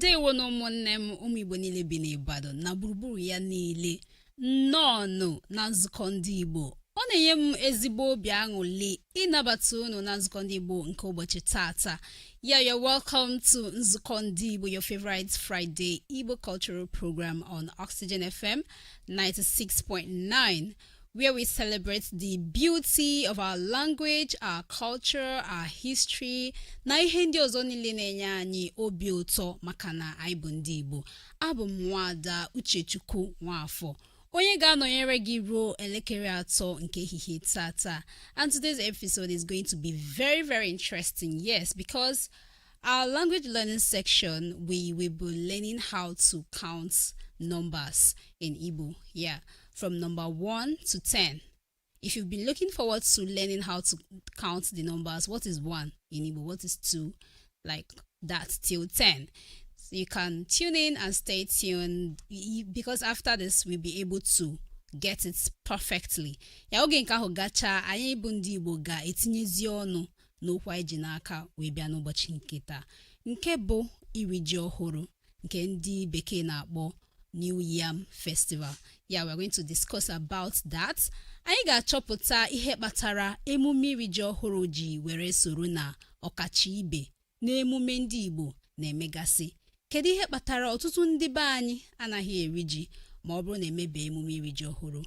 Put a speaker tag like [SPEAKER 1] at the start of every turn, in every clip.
[SPEAKER 1] ndewonụ ụmụnne m ụmụ igbo niile bi n'Ibadan na gburugburu ya niile nnọọnụ na nzukọ ndị igbo ọ na-enye m ezigbo obi aṅụli ịnabata unu na nzukọ ndị igbo nke ụbọchị tata yeah, you're welcome to nzukọ ndị igbo your favorite Friday Igbo cultural program on Oxygen FM 96.9 where we celebrate the beauty of our language, our culture, our history na ihe ndị ọzọ niile na-enye anyị obi ụtọ maka na anyị bụ ndị Igbo abụ m nwaada Uchechukwu Nwafọ onye ga-anọnyere gị ruo elekere atọ nke ehihie tata and today's episode is going to be very very interesting yes because Our language learning section, we will be learning how to count numbers in Igbo. Yeah, from number 1 to 10. If you've been looking forward to learning how to count the numbers, what is 1 in Igbo? What is 2? Like that till 10. So you can tune in and stay tuned because after this, we'll be able to get it perfectly. Ya oge nke ahụ gachaa anyị bụ ndị Igbo ga-etinyezi ọnụ n'okwu anyị ji n'aka wee bịa n'ụbọchị nke taa nke bụ iri ji ọhụrụ nke ndị bekee na-akpọ New Yam Festival yeah we're going to discuss about that anyị ga-achọpụta ihe kpatara emume iri ji ọhụrụ ji were soro na ọkacha ibe n'emume ndị Igbo na-emegasị kedu ihe kpatara ọtụtụ ndị be anyị anaghị eri ji ma ọ bụrụ na emebe emume iri ji ọhụrụ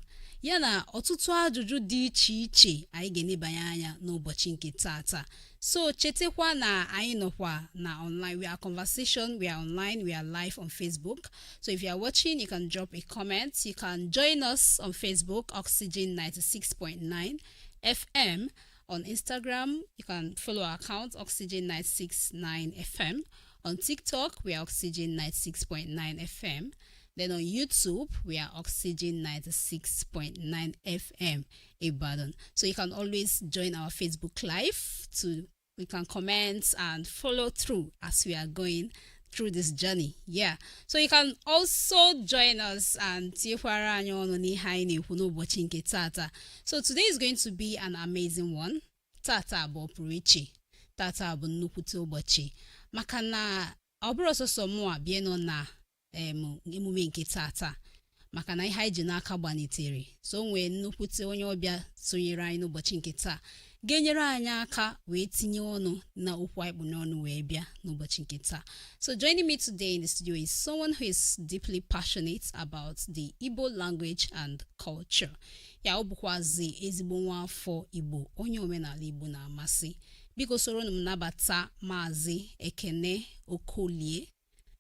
[SPEAKER 1] ya na ọtụtụ ajụjụ dị iche iche anyị ga-enebanye anya n'ụbọchị nke tata so chetakwa na anyị nọkwa na online we are conversation we are online we are live on facebook so if you are watching you can drop a comment you can join us on facebook oxygen 96.9 fm on instagram you can follow our account oxygen 969 fm On TikTok, we are Oxygen 96.9 FM. Then on YouTube, we are Oxygen 96.9 FM Ibadan. So you can always join our Facebook Live so we can comment and follow through as we are going through this journey. Yeah. So you can also join us and tinyekwara anyị ọnụ n'ihe anyị na-ekwu n'ụbọchị nke tata. So today is going to be an amazing one. tata bụ ọpụrụ iche tata bụ nnukwute ụbọchị maka na ọ bụrọ sọsọ mụa bịa nọ na em, emume nke tata maka na ihe anyị ji n'aka gbanitere so o nwee nnukwute onye ọbịa sonyere anyị n'ụbọchị nke taa ga-enyere anyị aka wee tinye ọnụ na okwu anyị kpụ n'ọnụ wee bịa n'ụbọchị nke taa so joining me today in the studio is someone who is deeply passionate about the Igbo language and culture yeah ọ bụkwazi ezigbo nwa afọ igbo onye omenala igbo na-amasị biko soronụ m nabata maazị ekene okolie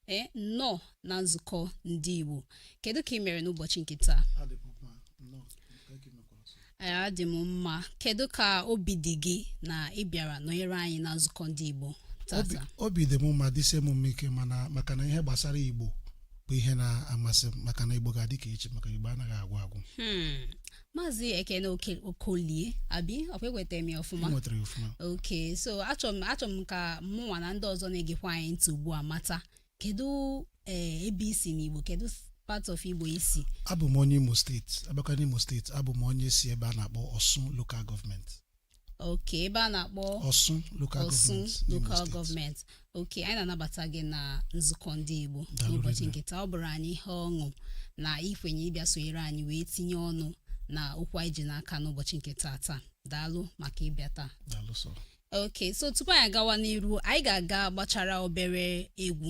[SPEAKER 1] ee nnọọ na nzukọ ndị igbo kedu ka ị mere n'ụbọchị nke taa Adị m mma, nnọọ, nke gị mekwara ọzọ. Ee, adị m mma kedu ka obi dị gị na ị bịara nọnyere anyị na nzukọ ndị igbo Obi- tata obi dị m mma dịsie m mma ike mana maka na ihe gbasara igbo bụ ihe na-amasị m maka na igbo ga-adị ka echi maka igbo anaghị agwụ agwụ Hmm. maazị ekene Oke- okolie abi ọkwa enwetara m ya ọfụma i nwetara ya ọfụma ok so achọrọ m achọrọ m ka mụnwa na ndị ọzọ na-egekwa anyị ntị ugbu a mata kedu eh, ebe i si n'igbo kedu part of igbo i si abụ m onye imo steeti a bịakwa n'imo steeti abụ m onye si ebe a na-akpọ ọsụ lokal gọọmenti oke ebe a na-akpọ ọsụ local gọọmenti oke anyị na-anabata gị na nzukọ ndị Igbo Daalụ n'ụbọchị rinne. nke taa ọ bụrụ anyị ihe ọṅụ na i kwenye ịbịa sonyere anyị wee tinye ọnụ na okwu anyị ji n'aka n'ụbọchị nke taa taa daalụ maka ịbịa taa Daalụ sọ. oke so tupu anyị agawa n'iru anyị ga-aga gbachara obere egwu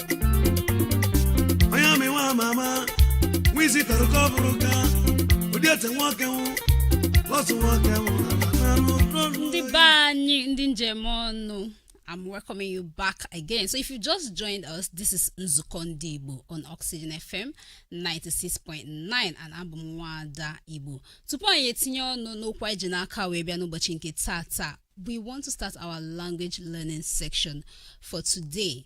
[SPEAKER 1] onye amị nwa ama ama nwa isi tara ka ọ bụrụ ka ụdị ete nwoke nwụ lọsụ nwoke nwụ n'anụ n'ọnụ Ndị be anyị, ndị m ji eme ọnụ. I'm welcoming you back again. So, if you just joined us, this is Nzuko Ndị Igbo on Oxygen FM 96.9 and abụ m Nwada Igbo. Tupu anyị etinye ọnụ n'okwu anyị ji n'aka wee bịa n'ụbọchị nke taataa, we want to start our language learning section for today.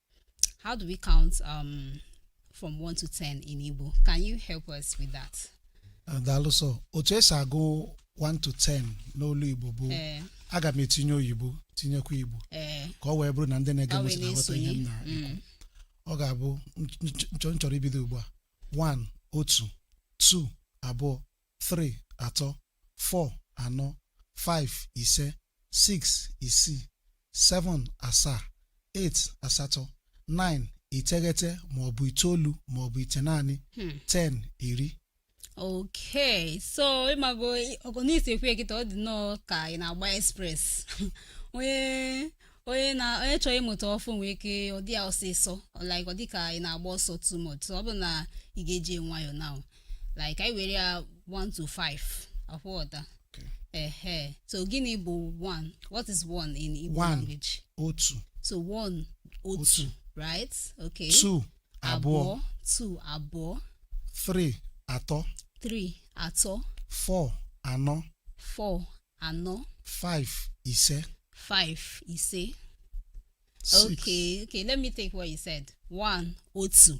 [SPEAKER 1] How do we count um, from 1 to 10 in Igbo? Can you help us with that? daalụ sọ otu e si agụ 1 to 10 n'olu igbo bụ Eh, aga m etinye oyibo tinyekwa igbo eh, ka ọ wee bụrụ na ndị na-ege m ntị na-aghọta ihe m na-esonye. Mm. ọ ga-abụ nch- nch- nchọ m chọrọ ibido ugbu a 1 otu 2 abụọ three, atọ, four, anọ, five, ise, six, isii, seven, asaa, eight, asatọ, nine, iteghete ma ọ bụ itoolu ma ọ bụ ite naanị, ten, iri. okay so ị mago ọgụ n'isi ekwe gị ọ dị nnọọ ka ị na-agba express onye onye na onye chọrọ ịmụta ọfụụ nwee ike ọ dị ya ọsịsọ like ọ dị ka ị na-agba ọsọ too much so ọ bụ na ị ga-eji nwayọọ now like i were ya 1 to 5 ị ghọta Okay. ehe so gịnị bụ 1 what is 1 in igbo One. language otu so 1 otu Otu. right okay two abụọ two abụọ three atọ three atọ four anọ four anọ five ise five ise six okay okay let me take what you said one otu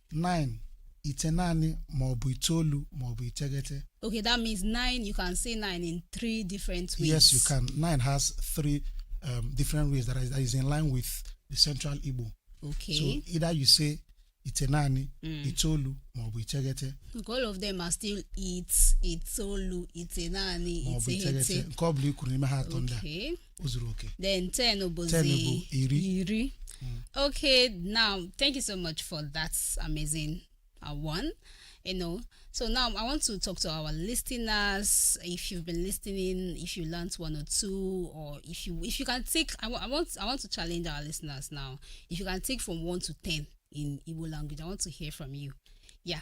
[SPEAKER 1] 9 ite naanị ma ọ bụ itoolu ma ọ bụ iteghete Okay, that means nine. You can say nine in three different ways. yes you can 9 has three um, different ways that is, that is in line with the central igbo Okay. so either you say ite naanị itoolu ma ọ bụ iteghete Look, all of them are still itoolu, ite naanị, ma ọ bụ iteghete. nke ọ bụla i kwuru n'ime ha atọ ndị a Okay. o zuru oke then 10 Ten bụ bụzi iri. iri okay now thank you so much for that amazing uh, one you know so now i want to talk to our listeners if you've been listening if you learned one or two or if you if you can take I wa- I want i want to challenge our listeners now if you can take from one to ten in Igbo language i want to hear from you yeah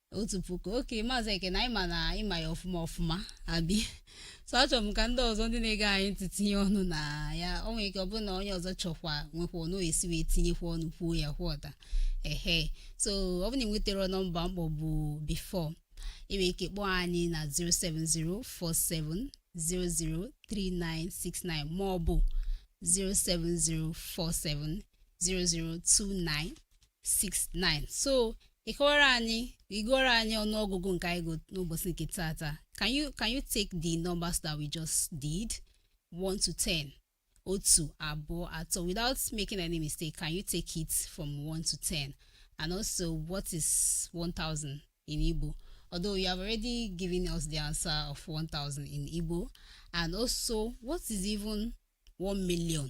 [SPEAKER 1] otu puku okay maazị ekene anyị ma na ị ma ya ọfụma ọfụma abi so achọrọ m ka ndị ọzọ ndị na-ege anyị ntị tinye ọnụ na ya o nwere ike ọ bụrụ na onye ọzọ chọkwa nwekwa ọnụ esi wee tinyekwa ọnụ kwuo ya kwuo ọda ehe so ọ bụrụ na ị nwetara nọmba m kpọbu before ị nwere ike kpọọ anyị na 07047003969 ma ọ bụ 070470029 69 so ị kọwara anyị ị gụọrọ anyị ọnụọgụgụ nke anyị gụrụ n'ụbọchị nke tata can you can you take the numbers that we just did 1 to 10 otu abụọ atọ without making any mistake can you take it from 1 to 10 and also what is 1000 in Igbo although you have already given us the answer of 1000 in Igbo and also what is even 1 million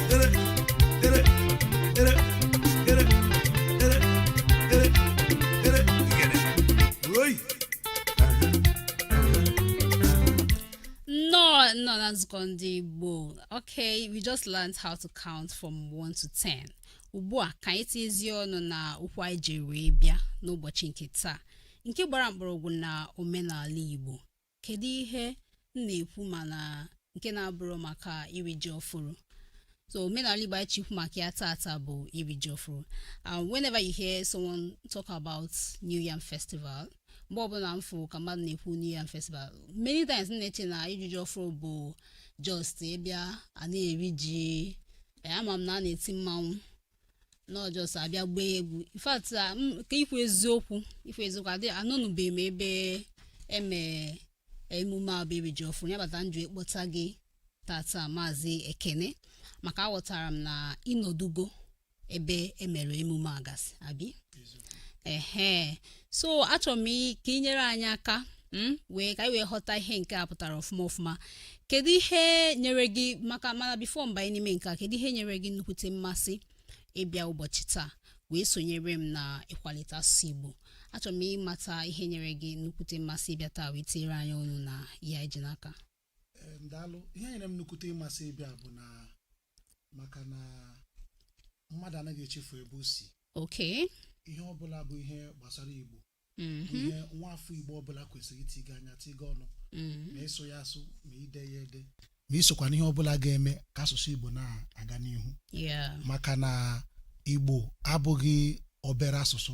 [SPEAKER 1] n'ọnụọgụgụ ndị Igbo. Okay, we just learned how to count from 1 to 10. Ugbu a ka anyị tinyezie ọnụ na okwu anyị ji wee bịa n'ụbọchị nke taa nke gbara mkpọrọgwụ na omenala Igbo kedu ihe m na-ekwu mana nke na-abụrụ maka iri ji ọfụrụ so omenala igbo anyị chọ ikwu maka ya tata bụ iri ji ọfụrụ and whenever you hear someone talk about new yam festival mgbe ọbụla m fụ ka mmadụ na-ekwu new yam festival many times m na-eche na iri ji ọfụrụ bụ just ịbịa a na-eri ji ee, ama m na a na-eti mmanwụ na ọ just a bịa gbaa egwu in fact ka ikwu eziokwu ikwu eziokwu adị anọnụbeghị m ebe eme emume a bụ iri ji ọfụrụ ya kpata m ji kpọta gị tata maazị ekene maka aghọtara m na ị nọdugo ebe e mere emume a gasị abi ehe so achọrọ m i- ka ị nyere anyị aka m wee ka anyị wee ghọta ihe nke a pụtara ọfụma ọfụma kedu ihe nyere gị maka mana before m banye n'ime nke a kedu ihe nyere gị nnukwute mmasị ịbịa ụbọchị taa wee sonyere m na ịkwalite asụsụ igbo achọrọ m ịmata ihe nyere gị nnukwute mmasị ịbịa taa wee tinyere anyị ọnụ na ya iji n'aka Ee, ndalụ ihe nyere m nnukwute mmasị ịbịa bụ na maka na mmadụ anaghị echefu ebe o si okay ihe ọbụla bụ ihe gbasara igbo bụ mhm, ihe nwa afọ igbo ọbụla kwesịrị itiga anya tiga ọnụ mhm. ma ịsụ ya asụ ma ide ya ede ma isokwa n'ihe ọbụla ga-eme ka asụsụ igbo na-aga n'ihu yeah maka na igbo abụghị obere asụsụ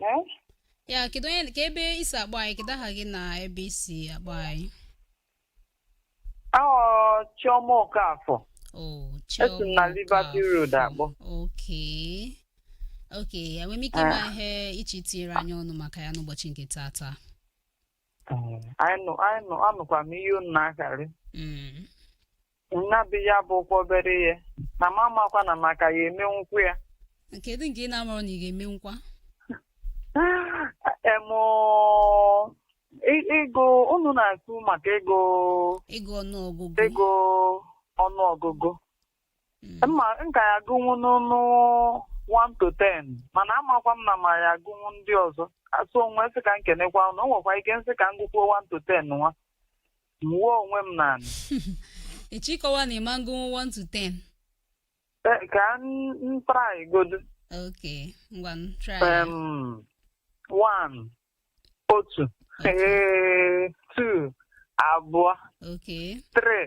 [SPEAKER 1] Eh? ya kedu onye ka ebe i si akpọ anyị kedu aha gị na ebe i si akpọ anyị Aha m bụ Chioma Okafọ. oh Esi m na Liberty Road akpọ. okay okay enwere m ike ịma ihe ị chọrọ itinyere anyị ọnụ maka ya n'ụbọchị nke tata anyị nụ- anyị nụ- anụkwa m ihe unu na-akarị Mm. nna bụ ya bụ okwu obere ihe na m amakwa na m ka ya-emenwu ya kedu nke ị na-amarọ na ị ga-eme nkwa emụ ị- ịgụ unu na-ekwu maka ego ịgụ ọnụọgụgụ ego ọnụọgụgụ mma m ka ya-agụnwu ọnụ 1 to 10 mana amakwa m na m ya-agụnwu ndị ọzọ asụ onwe sị ka m kenekwa ụnụ o nwekwa ike m sị ka m gụkwuo 1 to 10 nwa m wuo onwe m na anị ịchịkọwa na ị ma-agụnwu 1 to 10 Ee, ka m try godu ok ngwa m try ya. Em, one otu ee two abụọ ok three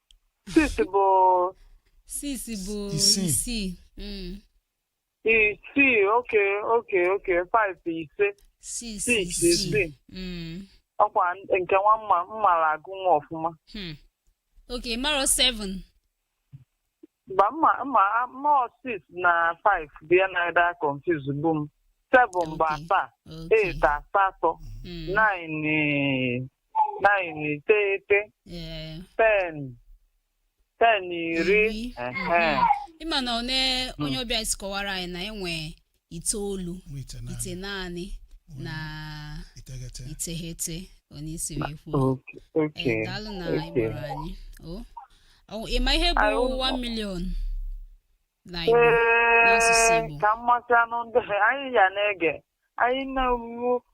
[SPEAKER 1] Six bụ Six bụ Isii. isii. Mm. isii. Okay, okay, okay. Five bụ ise. Six, Six, isii. isii. Mm. Ọkwa nke nwa m na-amarọ agụ nwa ọfụma. Hmm. Okay, maro seven. Mba mma mma mma six na five dị ya na ịda confuse gbu m seven bụ Okay. asaa Okay. eight asatọ Mm. nine eh, nine iteghete Eh, ten ten iri Iri. ehe. Ị ma na one onye ọbịa si kọwara anyị na e nwe itoolu Mụ itenaanị. itenaanị na Iteghete. iteghete onyeisi wee kwuo Okay. Ee, Okay. daalụ na ị Okay. gbara anyị o Ọ- ị ma ihe bụ Anyị ụmụ- 1 million na Igbo n'asụsụ Ee, Igbo ka mmasị anụ ndị anyị ya na-ege anyị na-enwu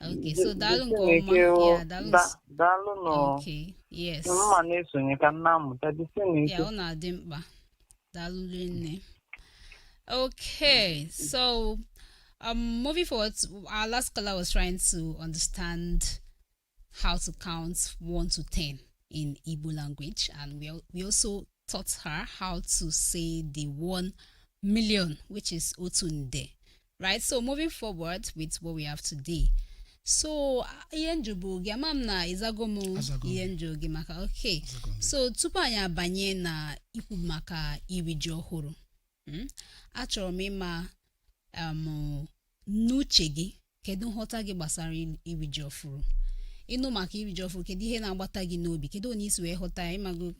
[SPEAKER 1] Okay, so daalụ nke ọma. Yeah, daalụ. Da- daalụ nụ Okay, yes. m na-esonye ka m na-amụta jisi na Ya ike ọ na-adị mkpa. Daalụ nne. Okay, so um, moving forward, our last caller was trying to understand how to count 1 to 10 in Igbo language, and we, al- we also taught her how to say the 1 million, which is otu nde. right so moving forward with what we have today so ihe m jụbu gị ama m na ị zago m Azago m. ihe m jụ gị maka okay Azago m. so tupu anyị abanye na ikwu maka iri ji ọhụrụ mm, achọrọ m ịma um, n'uche gị kedu nghọta gị gbasara i- iri ji ọfụrụ ị nụ maka iri ji ọfụrụ kedu ihe na-agbata gị n'obi kedu otu i si wee ghọta ya ị mago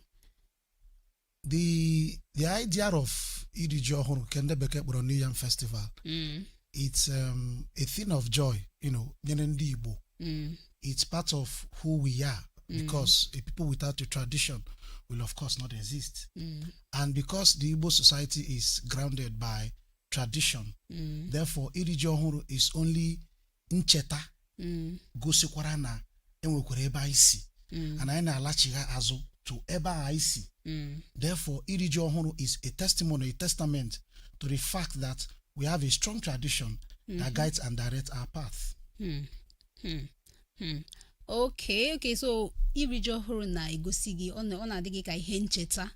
[SPEAKER 1] the the idea of iri ji ọhụrụ nke ndị bekee kpọrọ new yam festival Mm, it's um, a thing of joy you know nyere ndị igbo mm, it's part of who we are because a people without a tradition will of course not exist mm, and because the igbo society is grounded by tradition mm, therefore iri ji ọhụrụ is only ncheta mm. gosikwara na enwekwara ebe anyị si mm. and anyị na-alachigha azụ to ebe a anyị si mm. therefore iri ji ọhụrụ is a testimony a testament to the fact that we have a strong tradition that mm-hmm. guides and directs our path. Hmm. Hmm. Hmm. okay okay so iri ji ọhụrụ na-egosi gị ọ na-adị gị ka ihe ncheta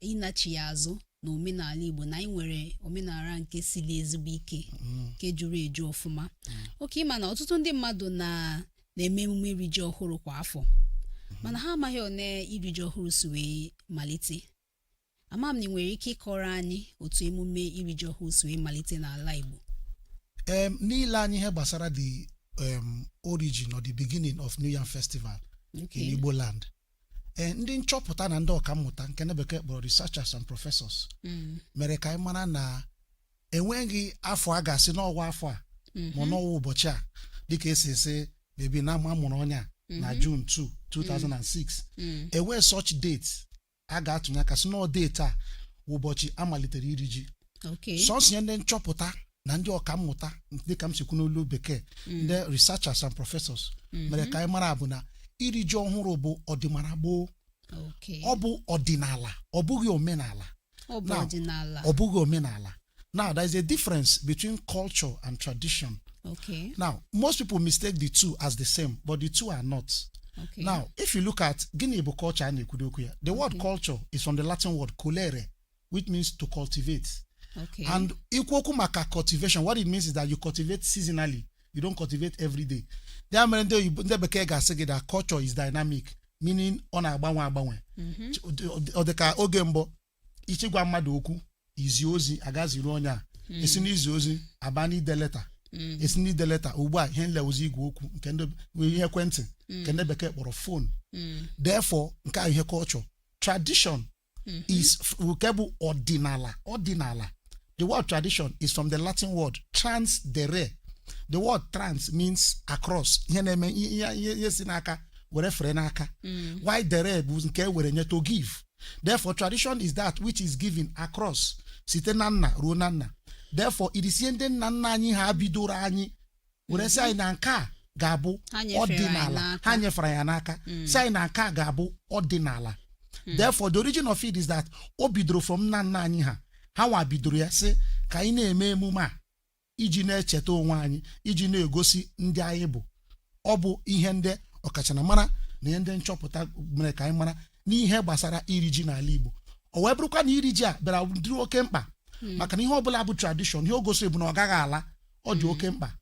[SPEAKER 1] ịnachigha azụ na omenala igbo na anyị nwere omenala nke siri ezigbo ike nke juru eju ọfụma okay ị ma na ọtụtụ ndị mmadụ na na-eme emume iri ji ọhụrụ kwa afọ mana ha amaghị otu iri ji ọhụrụ si wee malite ama m na ị nwere ike ịkọrọ anyị otu emume iri ji ọhụrụ si wee malite n'ala igbo em n'ile anya ihe gbasara the um, origin or the beginning of new yam festival in Okay. igbo land ee ndị nchọpụta na ndị ọkammụta nke na bekee a kpọrọ researchers and professors Mm. mere ka anyị mara na enweghị afọ a ga-asị n'ọ wụ afọ a ma ọ n'ọ wụ ụbọchị a dịka e si asị maybe na a mụrụ onye a na June 2 2006 Mm. enweghị such date a ga-atụnye aka sị n'ọ date a wụ ụbọchị a malitere iri ji Okay. sọsọ ihe ndị nchọpụta na ndị ọkammụta dịka m si kwu n'olu bekee ndị researchers and professors mere ka anyị mara bụ na iri ji ọhụrụ bụ ọdịmara gboo Okay. ọ bụ ọdịnala ọ bụghị omenala Ọ bụ now, ọdịnala. ọ bụghị omenala now there is a difference between culture and tradition Okay. now most people mistake the two as the same but the two are not Okay. now if you look at gịnị bụ culture a na-ekwudị okwu ya the word culture is from the latin word colere which means to cultivate Okay. and ikwu okwu maka cultivation what it means is that you cultivate seasonally you don't cultivate every day ya mere ndị oyibo ndị bekee ga-asị gị that culture is dynamic meaning ọ na-agbanwe agbanwe Mhm. Ch- ọ dị- ọ dị- ọ dị ka oge mbụ ị chọ ịgwa mmadụ okwu izi ozi agaziru onye a e si n'izi ozi aba n'ide leta Mm. e si n'ide leta ugbu a ihe na-ewuzi igwe okwu nke ndị bụ ihe ekwentị nke ndị bekee kpọrọ phone Mm. therefore nke ahụ ihe culture tradition is f- nke bụ ọdịnala ọdịnala the word tradition is from the latin word trans dere the word trans means across ihe na-eme ihe ihe- ihe ihe si n'aka were fere n'aka while dere bụ nke e were nye to give therefore tradition is that which is given across site na nna ruo na nna therefore it is ihe ndị nna nna anyị ha bidoro anyị were sị anyị na nke a ga-abụ Ha nyefere anyị ọdịnala n'aka. ha nyefere ya n'aka sị anyị na nke a ga-abụ ọdịnala therefore the origin of it is that o bidoro from nna nna anyị ha ha nwa bidoro ya sị ka anyị na-eme emume a iji na-echeta onwe anyị iji na-egosi ndị anyị bụ ọ bụ ihe ndị ọkachamara na ihe ndị nchọpụta mere ka anyị mara n'ihe gbasara iri ji n'ala Igbo o wee bụrụkwa na iri ji a bịara dịrị oke mkpa maka na ihe ọbụla bụ tradition ihe o gosiri bụ na ọ gaghị ala ọ dị oke mkpa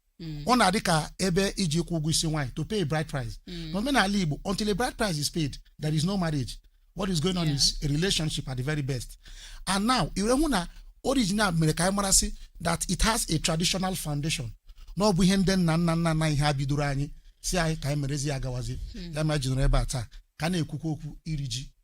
[SPEAKER 1] ọ na-adị ka ebe iji kwụọ ụgwọ isi nwaanyị to pay a bride price n'omenala igbo until a bride price is paid there is no marriage what is going on Yeah. is a relationship at the very best and now i were hụ na origin a mere ka anyị marasị that it has a traditional foundation na ọ bụ ihe ndị nna nna nna nna anyị ha bidoro anyị sị anyị ka anyị merezi ya gawazi ya m ji nọrọ ebe a taa ka a na-ekwukwa okwu iri ji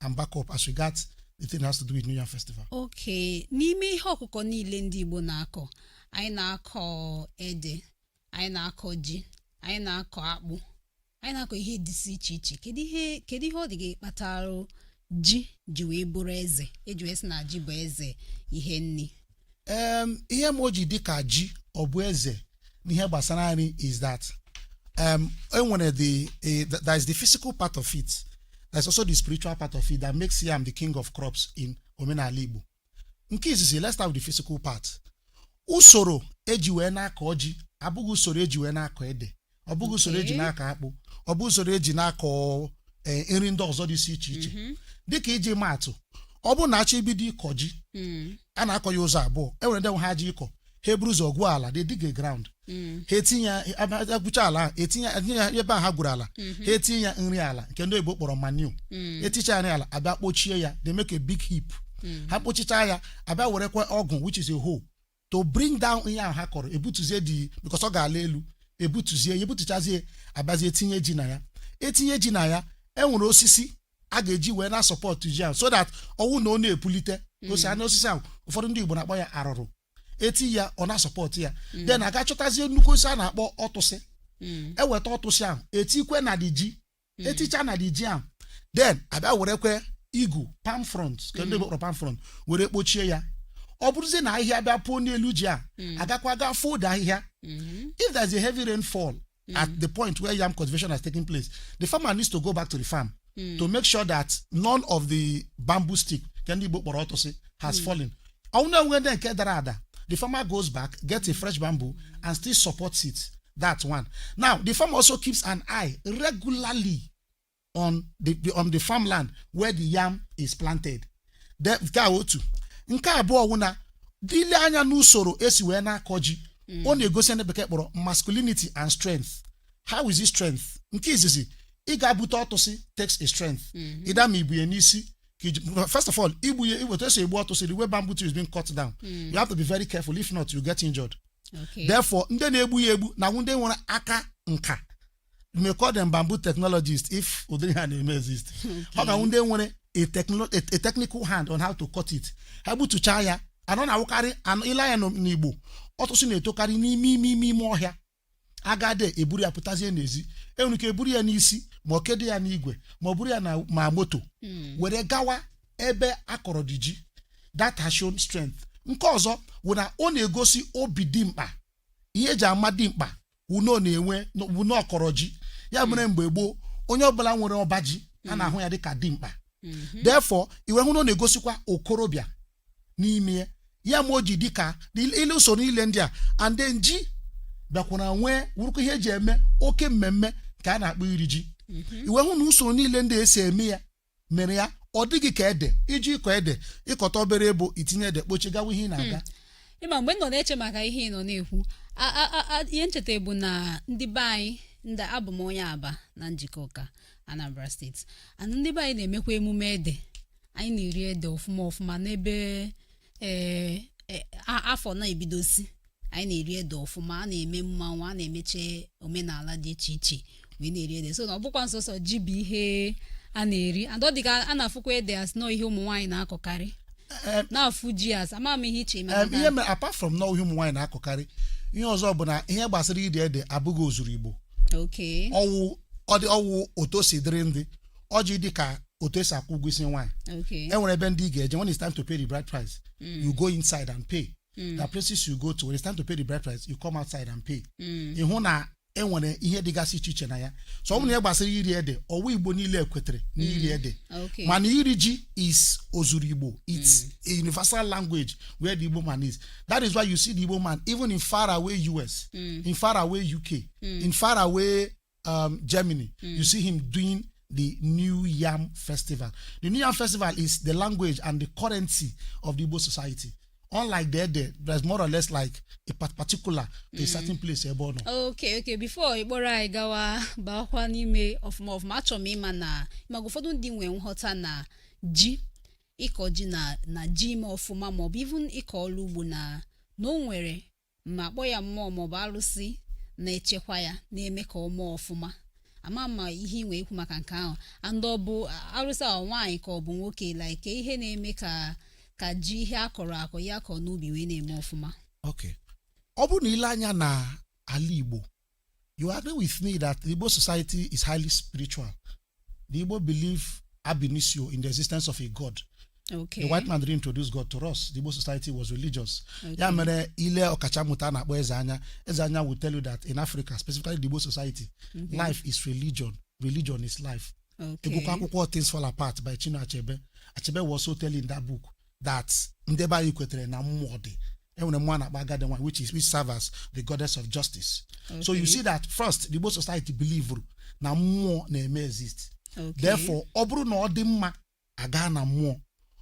[SPEAKER 1] and back up as regards the thing that has to do with New Yam Festival. okay n'ime ihe ọkụkọ niile ndị igbo na-akọ anyị na-akọ ede anyị na-akọ ji anyị na-akọ akpụ anyị na-akọ ihe dịsị iche iche kedu ihe kedu ihe ọ dị gị kpatara ji ji wee bụrụ eze eji wee sị na ji bụ eze ihe nri um ihe mere o ji dị ka ji ọ bụ eze n'ihe gbasara nri is that um enwere the eh, th- there is the physical part of it there is also the spiritual part of it that makes yam the king of crops in omenala igbo nke izizi let's start with the physical part usoro eji wee na-akọ ji abụghị usoro eji wee na-akọ ede ọ bụghị usoro eji Okay. na-akọ akpụ ọ bụghị usoro eji na-akọ eh, nri ndị ọzọ dị iche iche Mhm. dịka iji maatụ ọ bụrụ na a chọọ ibido ịkọ ji Mm, a na-akọ ya ụzọ abụọ e nwere ndị nwe ha ji ịkọ ha eburu ụzọ gwuo ala they dig the ground mm, ha etinye e gwucha ala ahụ, etinye etinye ya ebe a ha gwuru ala ha etinye ya nri ala nke ndị oyibo kpọrọ manure mm, eticha ya nri ala abịa kpochie ya they make a big heap mm. ha kpochicha ya abịa werekwa ọgụ which is a hoe to bring down ihe ahụ ha kọrọ ebutuzie the because ọ gaala elu ebutuzie ya ebutuchazie abịazie tinye ji na ya etinye ji na ya enwere osisi a ga-eji wee na-support ji ahụ so that ọ wụ na ọ na-epulite osi anụ osisi ahụ ụfọdụ ndị igbo na-akpọ ya arụrụ eti ya ọ na-support ya then a gaa chọtazie nnukwu osisi a na-akpọ ọtụsị eweta ọtụsị ahụ etikwa na the ji hmm. eticha na the yam then abịa werekwe igu palm frond ka ndị kpọrọ palm frond were kpochie ya ọ bụrụzie na ahịhịa bịa puo n'elu ji a a gakwa gaa fọọ ahịhịa if there is a heavy rainfall at the point where yam cultivation has taken place the farmer needs to go back to the farm to make sure that none of the bamboo stick ka ndị Igbo kpọrọ ọtụsị has fallen ọ wụ na e nwee ndị nke dara ada the farmer goes back gets a fresh bamboo and still supports it that one now the farmer also keeps an eye regularly on the, the on the farmland where the yam is planted The- nke a otu nke abụọ wụ na ile anya n'usoro esi wee na-akọ ji ọ na-egosi ndị bekee kpọrọ masculinity and strength how is it strength nke izizi ị ga-abute ọtụsị takes a strength ịda ma ibu ya n'isi ka iji- first of all igbu ya iweta esi egbu ọtụsị the way bamboo tree is being cut down you have to be very careful if not you get injured Okay. therefore ndị na-egbu ya egbu na-awụ ndị nwere aka nka you may call them bamboo technologists if ụdịrị ahụ na-eme exist ọ ga-awụ ndị nwere a, techno- a, a technical hand on how to cut it ha gbutuchaa ya and ọ na-awụkarị ile anya n'o- n'igbo ọtụsị na-etokarị n'ime ime ime ime ọhịa agade eburu ya pụtazie n'ezi enwere ike eburu ya n'isi ma ọ kedo ya n'igwe ma ọ buru ya na ma moto Mm. were gawa ebe akọrọ dị ji that has shown strength nke ọzọ wụ na ọ na-egosi obi dimkpa ihe eji ama dimkpa wụ na ọ na-enwe wụ na ọkọrọ ji ya mere mgbe gboo onye ọbụla nwere ọba ji a na-ahụ ya dịka dimkpa therefore i wee hụ na ọ na-egosikwa okorobịa n'ime ya ya mere o ji dịka ile usoro niile ndị a and then ji bịakwara wee wụrụkwa ihe eji eme oke mmemme nke a na-akpọ iri ji i wee hụ na usoro niile ndị esi eme ya mere ya ọ dịghị ka ede iji ịkọ ede ịkọta obere ebo itinye ede kpochie gawa ihe ị na-aga ịma mgbe m nọ na-eche maka ihe ị nọ na-ekwu a- a- a- a- ihe m cheta bụ na ndị be anyị ndị abụ m onye abba na njikọka anambra steeti and ndị be anyị na-emekwa emume ede anyị na-eri ede ọfụma ọfụma n'ebe ee e- a- afọ na-ebidosi anyị na-eri ede ọfụma a na-eme mmanwụ a na-emeche omenala dị iche iche wee na-eri ede so na ọ bụkwa nsọsọ ji bụ ihe a na-eri and ọ dịka a na-afụkwa ede as n'ọ ihe ụmụ nwaanyị na-akọkarị Eh, na-afụ ji as ama m ihe iche maka Em, na- ihe mere apart from na ihe ụmụ nwaanyị na-akọkarị ihe ọzọ bụ na ihe gbasara iri ede abụghị ozuru igbo okay ọwụ ọ dị ọwụ otu o si dịrị ndị o ji dị ka otu esi akwụ ụgwọ isi nwaanyị Okay. e nwere ebe ndị ị ga-eje when it's time to pay the bride price Mm. you go inside and pay Mm. there are places you go to when it's time to pay the bride price you come outside and pay Mm. ị hụ na e nwere ihe dịgasị iche iche na ya so ọ bụrụ na ihe gbasara iri ede ọ wụghị igbo niile kwetere na iri ede Okay. mana iri ji is ozuru igbo it's a universal language where the igbo man is that is why you see the igbo man even in far away us in far away uk in far away um, Germany, mm. you see him doing the New Yam Festival. The New Yam Festival is the language and the currency of the Igbo society. Unlike ede, ede is more or less like a particular to mm. a certain place ebe ọ nọ. Okay, okay. Before ịkpọrọ anyị gawa baakwa n'ime ọfụma ọfụma achọrọ m ịma na maka ụfọdụ ndị nwee nghọta na ji ịkọ ji na na ji ime ọfụma maọbụ even ịkọ ọrụ ugbo na na o nwere ma akpọ ya mmụọ maọbụ arụsị na-echekwa ya na-eme ka o mee ọfụma ama ma ihe i nwee ikwu maka nke ahụ and ọ bụ arụsị ahụ nwaanyị ka ọ bụ nwoke like ihe na-eme ka ka ji ihe a kọrọ akọ ya kọ n'ubi wee na-eme ọfụma ok ọ bụrụ na i lee anya na ala igbo you agree with me that the Igbo society is highly spiritual. The Igbo believe ab initio in the existence of a God. Okay. The white man didn't introduce God to us. The Igbo society was religious. Okay. Ya mere i lee ọkachamụta a na-akpọ Ezeanya. Ezeanya will tell you that in Africa, specifically the Igbo society, mm -hmm. life is religion. Religion is life. Okay. I gụkwaa akwụkwọ Things Fall Apart by Chinua Achebe. Achebe was also telling that book that ndị be anyị kwetere na mmụọ dị enwere mmụọ a na-akpọ agadi nwaanyị which is which serve as the goddess of justice so you see that first the Igbo society believe na mmụọ na-eme exist Okay. therefore ọ bụrụ na ọ dị mma a gaa na mmụọ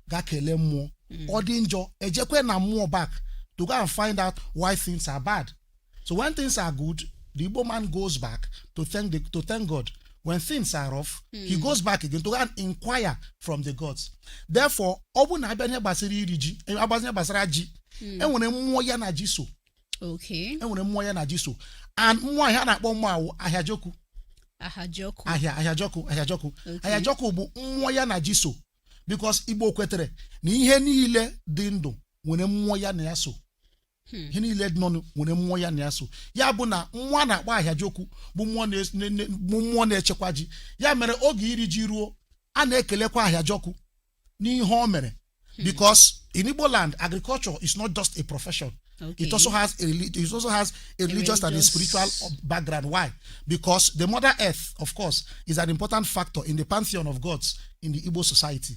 [SPEAKER 1] ga kelee mmụọ ọ dị njọ e jekwe na mmụọ back to go and find out why things are bad So when things are good, the Igbo man goes back to thank the, to thank God. When things are rough, he goes back again to go and inquire from the gods. Therefore, ọ bụ na a bịa ihe gbasara iri ji, eh, agbazi ihe gbasara ji, enwere mmụọ ya na ji so, okay enwere mmụọ ya na ji so. And mmụọ a ihe a na-akpọ mmụọ a wụ Ahịajọkụ, Ahajọkụ Ahịa Ahịajọkụ, Ahịajọkụ. Okay. Ahịajọkụ bụ mmụọ ya na ji so. Because Igbo kwetere na ihe niile dị ndụ nwere mmụọ ya na ya so. ihe niile dị ndụ nwere mmụọ ya na ya so ya bụ na mmụọ a na-akpọ Ahịajọkụ bụ mmụọ na- na- na- bụ mmụọ na-echekwa ji ya mere oge iri ji ruo a na-ekelekwa Ahịajọkụ n'ihe o mere because in Igbo land agriculture is not just a profession Okay. it also has a reli- it also has a religious and a religious- spiritual background why because the mother earth of course is an important factor in the pantheon of gods in the Igbo society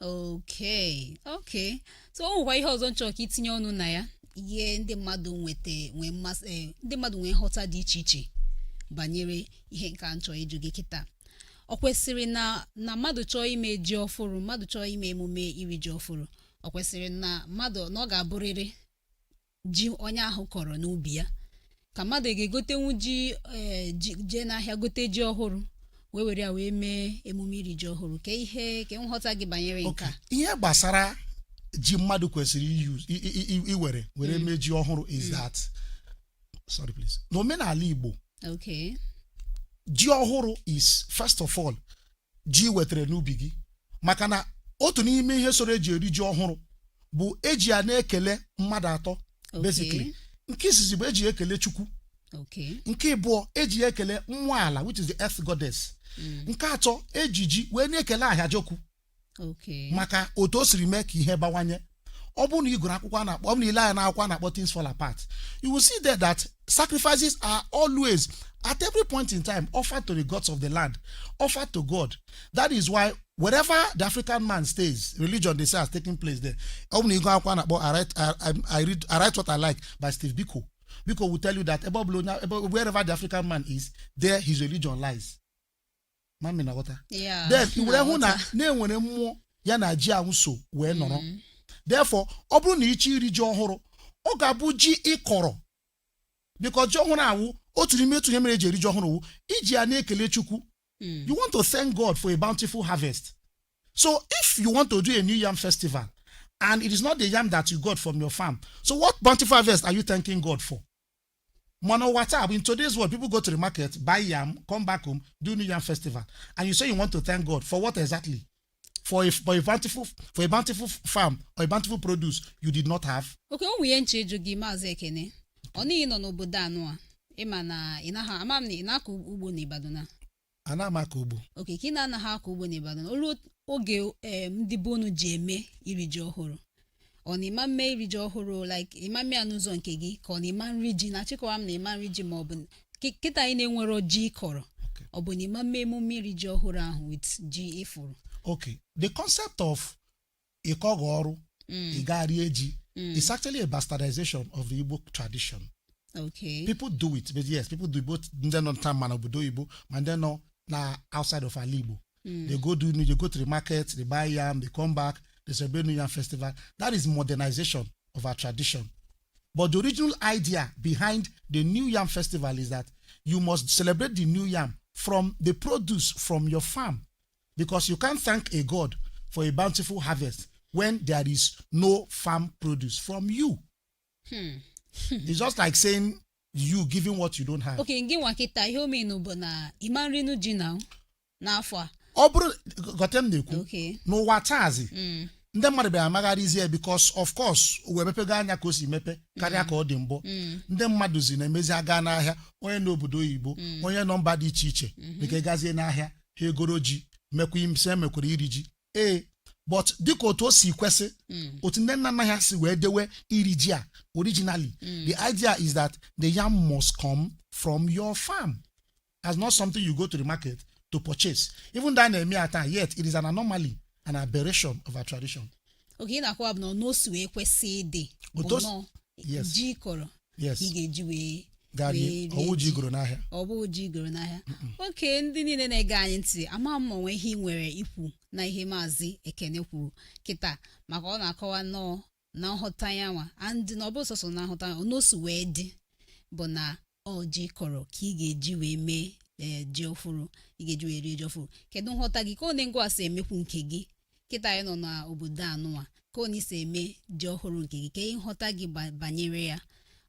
[SPEAKER 1] okay okay so o nwekwa ihe ọzọ m chọrọ ka i tinye ọnụ na ya ihe ndị mmadụ nweta nwee mmasị eh, ndị mmadụ nwee nghọta dị iche iche banyere ihe nke a m chọrọ ịjụ gị kịta ọ kwesịrị na na mmadụ chọọ ime ji ọfụrụ mmadụ chọọ ime emume iri ji ọfụrụ ọ kwesịrị na mmadụ na ọ ga-abụrịrị ji onye ahụ kọrọ n'ubi ya ka mmadụ ga-egotenwu ji ee, ji- jee n'ahịa gote ji ọhụrụ wee were ya wee mee emume iri ji ọhụrụ ka ihe ka nghọta gị banyere nke Okay. a ihe gbasara ji mmadụ kwesịrị iyuz- i- i- i- iwere were mee ji ọhụrụ is that sorry please n'omenala igbo okay ji ọhụrụ is first of all ji i wetara n'ubi gị maka na otu n'ime ihe soro eji eri ji ọhụrụ bụ eji ya na-ekele mmadụ atọ Okay. basically nke izizi bụ eji ekele chukwu Okay. nke ịbụọ eji ya ekele nwa ala which is the earth goddess Mm. nke atọ eji ji wee na-ekele Ahịajọkụ Okay. maka otu o siri mee ka ihe bawanye ọ bụrụ na ị gụrụ akwụkwọ a na-akpọ ọ bụrụ na i lee anya na akwụkwọ a na-akpọ things fall apart you will see there that sacrifices are always at every point in time offered to the gods of the land offered to god that is why wherever the african man stays religion they say has taken place there ọ bụrụ na ị gụọ akwụkwọ a na-akpọ I write- I- I- I read I write what I like by Steve Biko Biko will tell you that ebe ọ bụla onye- ebe- wherever the african man is there his religion lies ma ị na-aghọta Yeah, then i were hụ na na-aghọta. na e nwere mmụọ ya na ji ahụ so wee nọrọ Mm. therefore ọ bụrụ na ị chọọ iri ji ọhụrụ ọ ga-abụ ji ị kọrọ because ji ọhụrụ awụ otu n'ime otu ihe mere e ji eri ji ọhụrụ wụ iji ya na-ekele chukwu Mm. you want to thank god for a bountiful harvest so if you want to do a new yam festival and it is not the yam that you got from your farm so what bountiful harvest are you thanking god for mana ụwa taa bụ in today's world people go to the market buy yam come back home do new yam festival and you say you want to thank god for what exactly for a, for a bountiful for a bountiful farm or a bountiful produce you did not have okay o nwe ihe m chọ ịjụ gị maazị ekene ọ n'ihi ị nọ n'obodo anụ a ị ma na ị naghị ama m ma ị na-akọ ugbo n'Ibadan a anaghị m akọ ugbo okay ka ị na-anaghị akọ ugbo n'Ibadan o lu oge em, ndị be unu ji eme iri ji ọhụrụ ọ na ị ma mme iri ji ọhụrụ like ị ma mme ya n'ụzọ nke gị ka ọ na ị ma nri ji na echekwa m na ị ma nri ji ma ọ bụ kị- kịta ị na-enwero ji ị kọrọ Okay. ọ bụ na ị ma mme emume iri ji ọhụrụ ahụ with ji ị fụrụ okay the concept of ịkọghị ọrụ Mm, ị gaa rie ji mm, it's actually a bastardization of the igbo tradition okay. people do it but yes people do it both ndị nọ nta ma na obodo oyibo ma ndị nọ na outside of ala igbo Mm, they go do they go to the market they buy yam they come back they celebrate new yam festival that is modernization of our tradition but the original idea behind the new yam festival is that you must celebrate the new yam from the produce from your farm because you can't thank a god for a bountiful harvest when there is no farm produce from you Hmm. it's just like saying you giving what you don't have okay gị nwa kịta ihe o menụ bụ na ị ma nrinụ ji na n'afọ a ọ bụrụ gote m na-ekwu okay n'ụwa taazi Mm. ndị mmadụ bịara amagharịzie because of course ụwa emepego anya ka o si mepe karịa ka ọ dị mbụ Mm. ndị mmadụ zi na-emezi aga n'ahịa onye n'obodo oyibo onye nọ mba dị iche iche bekee gazie n'ahịa ha egoro ji mekwa ime mekwara iri ji ee but dịka otu o si kwesị Mm. otu ndị nna nna ha si wee dewe iri ji a originally Mm. the idea is that the yam must come from your farm as not something you go to the market to purchase even though a na-eme ya taa yet it is an anomaly an aberration of our tradition okay ihe ị na-akọwa bụ na otu o si wee kwesị ịdị bụ Otu o si- na ọ yes. ji ị kọrọ yes ị ga-eji wee gaa wee rie ọ wụghị ji ji. ị goro n'ahịa ọ bụghị ji ị goro n'ahịa okay ndị niile na-ege anyị ntị ama m ma o nwe ihe ị nwere ikwu na ihe maazị ekene kwuru kịta maka ọ na-akọwa nnọọ na nhụta ya nwa and na ọ bụ sọsọ na nhụta ya na otu o si wee dị bụ na ọ ji ị kọrọ ka ị ga-eji wee mee ee ji ọfụrụ ị ga-eji wee rie ji ọfụrụ kedu nghọta gị ka ọ na-ego asị emekwu nke gị kịta anyị nọ n'obodo anụnwa ka ọ na-esi eme ji ọhụrụ nke gị ka ihe nghọta gị ba- banyere ya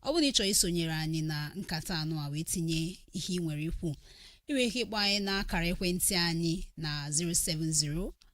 [SPEAKER 1] ọ bụrụ na ị chọrọ isonyere anyị na nkata anụ a wee tinye ihe ị nwere ikwu ị nwere ike ịkpọ anyị n'akara ekwentị anyị na 070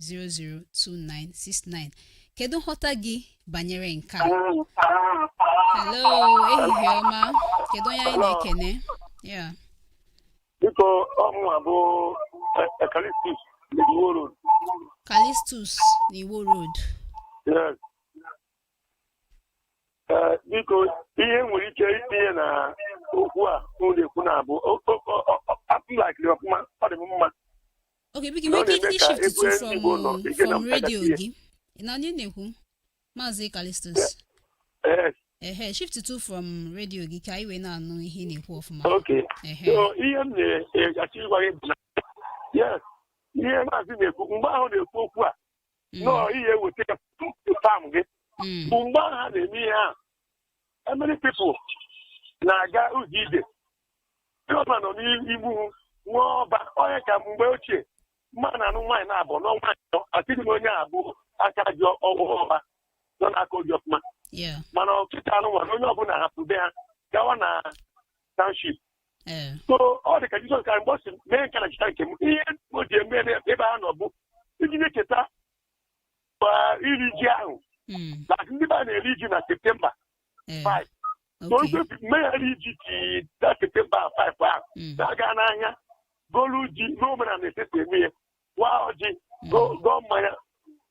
[SPEAKER 1] 0802969 kedu nghọta gị banyere nke a hello ehihie ọma kedu onye anyị na-ekene ya biko ọ mụwa bụ Calistus Iwo Road Calistus na Iwo Road yes Eh, biko ihe m nwere ike itinye na okwu a unu na-ekwu na abụ apụlakiri ọfụma ọ dị m mma Okay, biko Ị nwere ike na-eme ka ishift egwu to from ezigbo nọ. Ị ga na from radio mpagati ya. gị. Ị na onye na-ekwu? Maazị Calistus. Ee, Ehe, shiftuo from radio gị ka anyị wee na-anụ ihe ị na-ekwu ọfụma. okay Ehe. so ihe m na-achọ ịgwa gị bụ na yes ihe maazị na-ekwu mgbe ahụ na-ekwu okwu a Mm, nọọ ihe eweta ya tupu tam gị mm, bụ mgbe ahụ ha na-eme ihe a many people na-aga ụzọ ije ndị ọbụla nọ n'Igbo nwere ọba onye ka mgbe ochie mma na anụ nwaanyị na-abụ n'ọnwa atọ atịghị m onye bụ aka ji ọgwụ ọba na-akọ ji ọfụma Yeah. mana kịta nụnwa onye ọbụla hapụ be ha gawa na township Eh. so ọ dị ka Jizọs Kraịst mgbe ọ sị mee nke a na ncheta nke m ihe o ji eme na ebe ha nọ bụ iji na-echeta ma iri ji ahụ Mm. na ndị be ha na-eri ji na septemba Eh. 5 so Okay. ndị meyara iri ji na septemba 5 ahụ Mm. na-aga n'ahịa golu ji n'omenala e si eme ya waa ọjị gọọ gọọ mmanya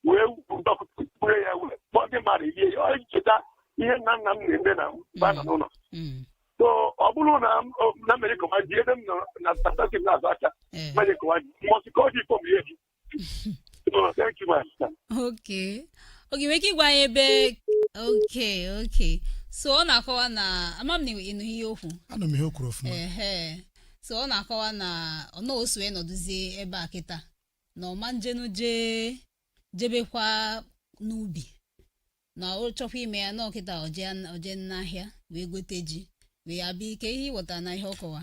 [SPEAKER 1] wee dọkpụrụ ya wee kpọọ ndị mmadụ rie ya ọ cheta ihe nna nna m na-eme na mgbe a nọ n'ụlọ Mm. so ọ bụrụ na m- o- na m jee kọwa ji ebe m nọ na statastik na-azụ aka Eh. m jee kọwa ji mọsị ka ọ dị ifo m ihe ji No, thank you, my sister. okay ọga i nwere ike ịgwa anyị ebe okay okay so ọ na-akọwa na ama m na ị nụ ihe o kwu anụ m ihe o kwuru ọfụma ehe so ọ na-akọwa na ọ na osu wee nọdụzie ebe a kịta na ọ ma ejenwu jee jebekwa n'ubi na ọ chọkwa ime ya na ọ kịta ọ jee ọ jee n'ahịa wee gote ji wee bịa kee ihe ị ghọta na ihe ọ kọwa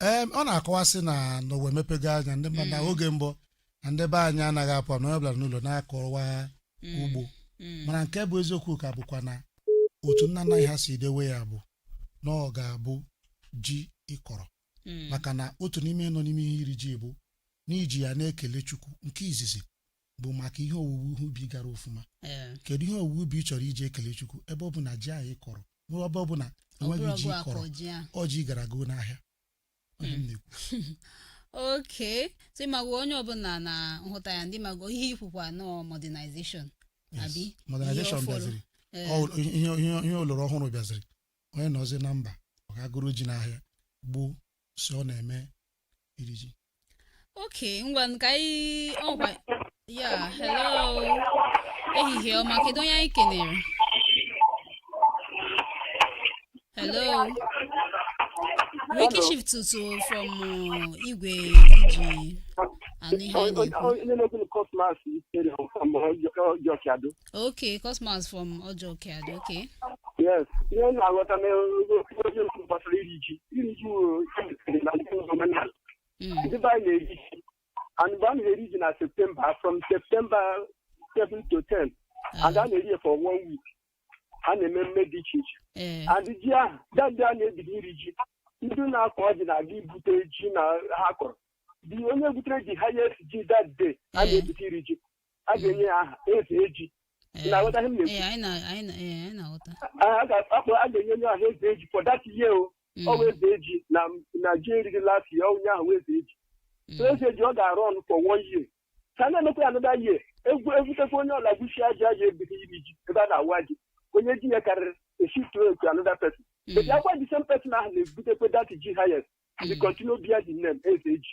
[SPEAKER 1] Ee, ọ na-akọwa sị na na ụwa emepego anya ndị mmadụ na oge mbụ na ndị be anyị anaghị apụ na onye ọbụla nọ n'ụlọ na-akọwa ugbo mana nke bụ eziokwu ka bụkwa na otu nna nna anyị ha si dewe ya bụ na ọ ga-abụ ji ị kọrọ maka na otu n'ime nọ n'ime ihe iri ji bụ n'iji ya na-ekele Chukwu nke izizi bụ maka ihe owuwe ihe ubi gara ọfụma ee kedu ihe owuwe ubi ị chọrọ iji ekele Chukwu ebe ọ bụ na ji ahụ ị kọrọ nwere ebe ọ bụ na ọ bụrụ enweghị ji ọgụ ị akọ kọrọ ji ahụ ọ ji ị gara goo n'ahịa Onye m na-ekwu. okay so ị mago onye ọbụla na nhụta ya ndị mago ihe ị kwukwa nọ modernization abi Yes. modernization ihe ọ fọrọ. bịaziri Ee, Ọ- ihe ihe- ihe oloro ọhụrụ bịaziri onye nọzi na mba ọ gaa goro ji n'ahịa gbuo si ọ na-eme iri ji oke ngwa ka anyị ọgwa ya hello ehihie ọma kedu onye anyị kenere hello biko shiftụọ from uh, igwe i ji anụ ihe anyị na-ekwu onye na-ekwu Cosmas tere ọjọọ ọjọọ Okay, Cosmas from Ojokead. Okay. Yes, ihe m na-aghọta n'ihe okwu gbasara iri ji iri ji wuru na ndị omenala Mm. ndị be anyị na-eri ji and mgbe a na-eri ji na septemba from septemba 7 to 10 and a na-eri ya for one week a na-eme mmemme dị iche iche Eh, and ji ahụ that day a na-ebido iri ji ndị na-akọ ji na-aga ibute ji na ha kọrọ dị onye butere ji highest ji that day a Eh. na-ebute iri ji a ga-enye ya aha eze ji Ee, na-aghọta ihe m na-ekwu? ee, anyị na- anyị na- ee, anyị na-aghọta a a ga-akpọ a ga-enye onye ahụ eze ji for that year o Mm, ọ bụ eze ji na na ji e riri last year onye ahụ wụ eze ji mm, so eze ji ọ ga-arun for one year ka a na-emekwa ya another year e bu- e butekwa onye ọla gbuchi aja aja ebido iri ji ebe a na-awa ji onye ji ya karịrị e shift to another person mm, but akwa the same person ahụ na-ebutekwa that ji highest the continue bear the name eze ji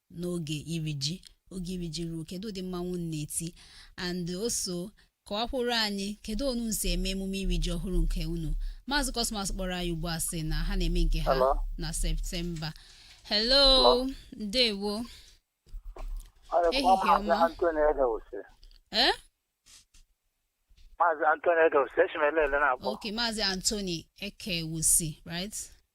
[SPEAKER 1] n'oge iri ji oge iri ji ruo kedu ụdị mmanwụ unu na-eti and also kọwakwuru anyị kedu unu si eme emume iri ji ọhụrụ nke unu maazị Cosmas kpọrọ anyị ugbu a sị na ha na-eme nke ha Hello? na septemba hello Hello? ndewo Ehihie ọma. eh maazị antoni ekewusi echimele ele na-akpọ ok maazị antoni ekewusi right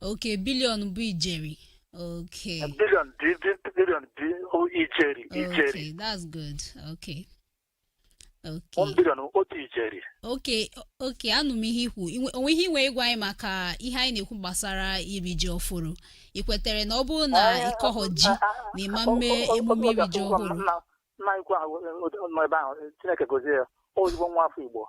[SPEAKER 1] okay billion bụ ijeri okay billion bi bi- billion bi o ijeri ijeri okay that's good okay okay one billion otu ijeri okay okay anụ m ihe i kwu I nwe- o nwe ihe i nwe ịgwa anyị maka ihe anyị na-ekwu gbasara iri ji ọfụrụ ị kwetere na ọ bụrụ na ị kọghọ ji na ị ma-eme emume iri ji ọfụrụ nna ikwu ahụ nọ ebe ahụ chineke gozie ya ezigbo nwa afọ igbo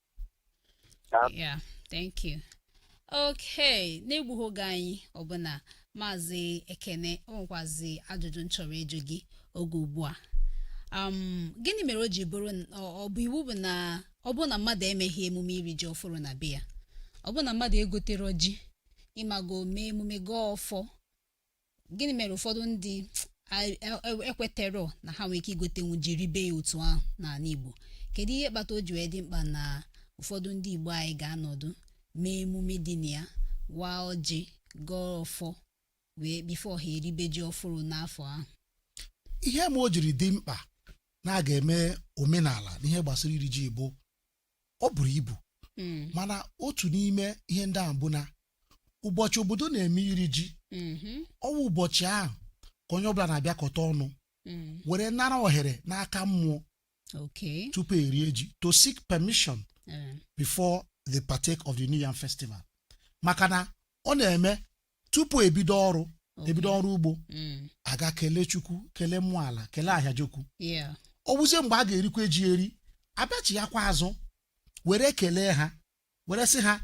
[SPEAKER 1] ya thank you okay n'egbughị oge anyị ọbụna maazị ekene o nwekwazi ajụjụ m chọrọ ịjụ gị oge ugbu a um, gịnị mere o ji bụrụ n- ọ ọ bụ iwu bụ na ọ bụ na mmadụ emeghị emume iri ji ọfụrụ na be ya ọ bụ na mmadụ egotere ji ị mago mee emume gọọ ọfọ gịnị mere ụfọdụ ndị ekwetero na ha nwere ike igotenwu ji ribe ya otu ahụ n'anị Igbo kedu ihe kpata o ji wee dị mkpa na ụfọdụ ndị Igbo anyị ga-anọdụ mee emume dị na ya waa ọjị gọọ ọfọ wee before ha eribe ji ọfụrụ n'afọ ahụ ihe me o jiri dị mkpa na a ga-eme omenala n'ihe gbasara iri ji bụ ọ buru ibu Mm, mana otu n'ime ihe ndị ahụ bụ na ụbọchị obodo na-eme iri ji mhm, ọ wụ ụbọchị ahụ ka onye ọbụla na-abịakọta ọnụ mm, were nara ohere n'aka mmụọ okay. tupu erie ji to seek permission Eh, before they partake of the new yam festival maka na ọ na-eme tupu ebido ọrụ Okay. ebido ọrụ ugbo Mm. agaa kelee chukwu kelee mmụọ ala kelee ahịajọkụ Yeah. ọ bụzie mgbe a ga-erikwa ji eri abịachi ya kwa azụ were kelee ha were sị ha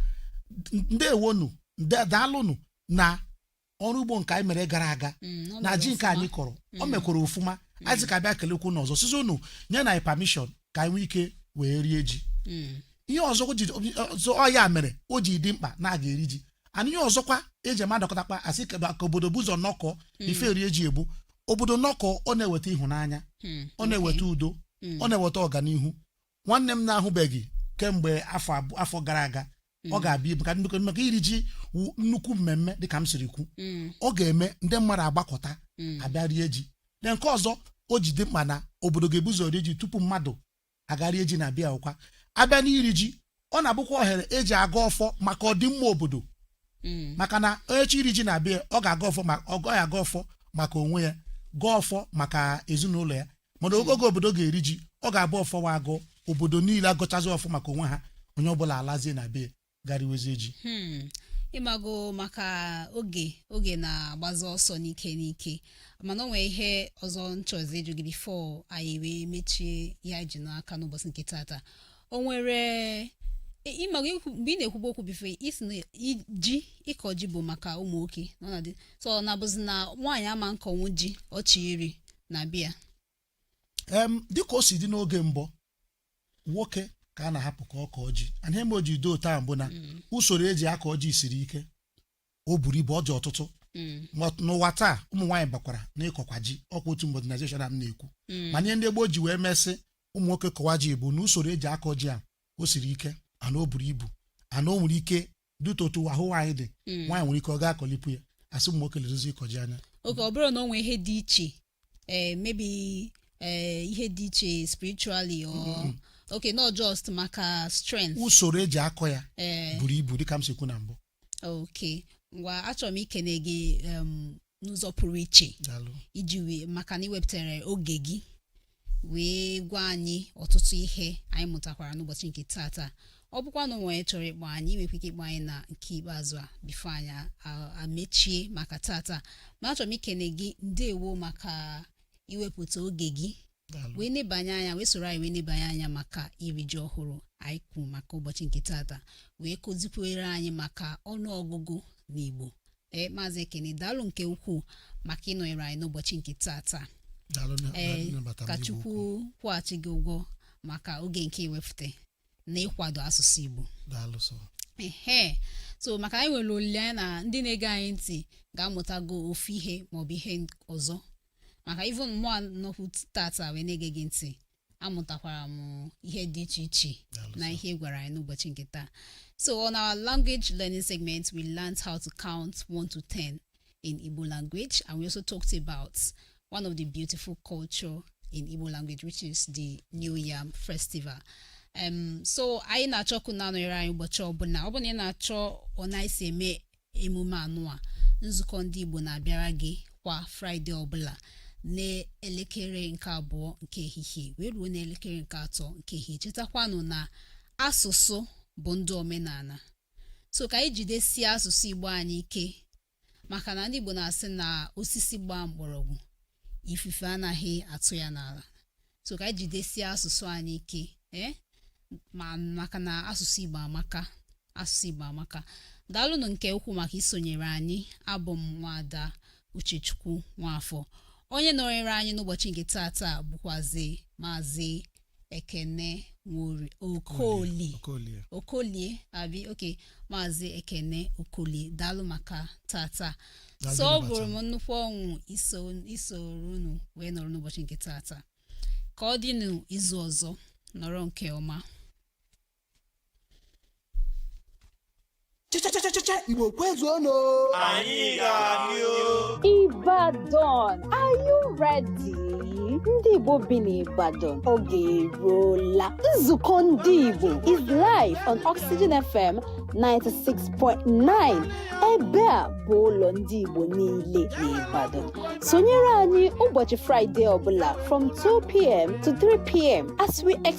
[SPEAKER 1] "N- ndewonu nde- daalụnụ na ọrụ ugbo nke anyị mere gara aga Mm, ọ na mere ji nke ọfụma. anyị kọrọ o mekwara ọfụma anyị sị ka abịa kelekwuo unu ọzọ sịzị unu nyenụ anyị permission ka anyị nwee ike wee rie ji Mm. ihe ọzọ o ji ọzọ ọ ya mere o ji dị mkpa na a ga-eri ji and ihe ọzọkwa eji eme adọkọtakwa asị ka ka obodo bu ụzọ nọkọ ife rie ji bụ obodo nọkọ ọ na-eweta ịhụnanya Mm. ọ na-eweta udo Mm. ọ na-eweta ọganihu nwanne m na-ahụbeghị kemgbe afọ abụ- afọ gara aga ọ ga-abịa ibu ka nnukwu maka iri ji wụ nnukwu mmemme dịka m siri kwu Mm. ọ ga-eme ndị mmadụ agbakọta Mm. abịa rie ji na nke ọzọ o ji dị mkpa na obodo ga-ebu ụzọ rie ji tupu mmadụ aga rie ji na be ya ọkwa abịa n'iri ji ọ na-abụkwa ohere eji agọ ọfọ maka ọdịmma obodo Mm. maka na onye chọ iri ji na be ya ọ ga-agọ ọfọ ma ọ ga-agọ ọfọ maka onwe ya gọọ ọfọ maka ezinụlọ ya mana oge oge obodo ga-eri ji ọ ga-abụ ọfọ ọha agọ obodo niile agọchazị ọfọ maka onwe ha onye ọbụla alazie na be ya ga riwezie ji Hmm. ịmago maka oge oge na-agbazi ọsọ n'ike n'ike mana o nwere ihe ọzọ m chọzị ịjụ gị before anyị wee mechie ihe anyị ji n'aka n'ụbọchị nke tata o nwere ị- ịmago ikwu- mgbe ị na-ekwubu okwu before ị sị na i- ji ịkọ ji bụ maka ụmụ nwoke na ọ na-adị so ọ na-abụzi na nwaanyị ama akọnwu ji ọ chọ iri na be ya em dịka o si dị n'oge mbụ nwoke ka a na-ahapụ ka ọ kọọ ji and ihe mere o ji dị otu a bụ na usoro eji akọ ji siri ike o buru ibu ọ dị ọtụtụ Mm, Ma n'ụwa taa ụmụ nwaanyị bakwara n'ịkọkwa ji ọkwa otu modernization a m na-ekwu mm, mana ihe ndị gboo ji wee mee sị ụmụ nwoke kọwa ji bụ na usoro eji akọ ji a o siri ike and o buru ibu and o nwere ike due to otu ahụ nwaanyị dị Mm. nwaanyị nwere ike ọ gaghị akọlipụ ya asị ụmụ nwoke ledozi ịkọ ji anya okay ọ bụrọ na o nwee ihe dị iche eh, maybe eh, ihe dị iche spiritually or okay no just maka strength usoro eji akọ ya eh, buru ibu dịka m si kwu na mbụ okay ngwa achọrọ m ikene gị em, n'ụzọ pụrụ iche daalụ iji wee maka na i wepụtara oge gị wee gwa anyị ọtụtụ ihe anyị mụtakwara n'ụbọchị nke tata ọ bụkwa na o nwee onye chọrọ ịkpọ anyị nwekwa ike ịkpọ anyị na nke ikpeazụ a before anyị a- a- amechie maka tata ma achọrọ m ikene gị ndewo maka iwepụta oge gị daalụ wee nebanye anya wee soro anyị wee nebanye anya maka iri ji ọhụrụ anyị kwuru maka ụbọchị nke tata wee kụzikwere anyị maka ọnụọgụgụ n'Igbo ee maazị ekene daalụ nke ukwuu maka ịnọnyere anyị n'ụbọchị nke taata daalụ na- ee nnabata m ka n'igwe chukwu okwu. kwụghachi gị ụgwọ maka oge nke i wefute na ịkwado asụsụ igbo daalụ sọ ehe so maka anyị nwere olileanya na ndị na-ege anyị ntị ga-amụtago ofu ihe maọbụ ihe ọzọ maka even mụa nọkwu tata wee na-ege gị ntị amụtakwara m ihe dị iche iche Daalụ na sir. ihe ị gwara anyị n'ụbọchị nke taa so on our language learning segment we learned how to count 1 to 10 in Igbo language and we also talked about one of the beautiful culture in Igbo language which is the New Yam Festival um, so anyị na-achọ ka unu na-anọnyere anyị ụbọchị ọbụla ọ bụ na ị na-achọ ọ na-esi eme emume anụa nzukọ ndị igbo na-abịara gị kwa fraịde ọbụla n'elekere nke abụọ nke ehihie wee ruo n'elekere nke atọ nke ehihie chetakwanụ na asụsụ bụ ndụ omenala so ka anyị jidesie asụsụ igbo anyị ike maka na ndị igbo na-asị na osisi gbaa mkpọrọgwụ ifufe anaghị atụ ya n'ala so ka anyị jidesie asụsụ anyị ike ee ma maka na asụsụ igbo amaka asụsụ igbo amaka daalụnụ nke ukwuu maka isonyere anyị abụ m nwada uchechukwu nwafọ onye nọnyere anyị n'ụbọchị nke taata bụkwazi maazị ekene nwori okoli okolie okolie abi okay maazị ekene okolie daalụ maka tata Daalụ sọ ọ maka bụrụ m nnukwu ọṅụ iso isoro unu wee nọrọ n'ụbọchị nke tata ka ọ dịnụ izu ọzọ nọrọ nke ọma Chachachachacha Igbo kwezuonụ. Anyị ga-adị o. Ibadan, are you ready? Ndị Igbo bi n'Ibadan oge eruola. Nzukọ ndị Igbo is live on Oxygen FM 96.9. Ebe a bụ ụlọ ndị Igbo niile n'Ibadan. Sonyere anyị ụbọchị Fraịde ọbụla from 2pm to 3pm as we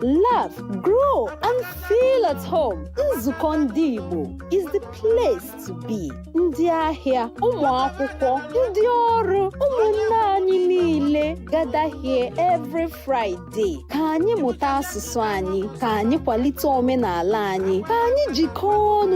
[SPEAKER 1] laugh, grow, and feel at home. Nzukọ ndị Igbo is the place to be. Ndị ahịa, ụmụ akwụkwọ, ndị ọrụ, ụmụnne anyị niile gather here every Friday. Ka anyị mụta asụsụ anyị, ka anyị kwalite omenala anyị, ka anyị jikọọ ọnụ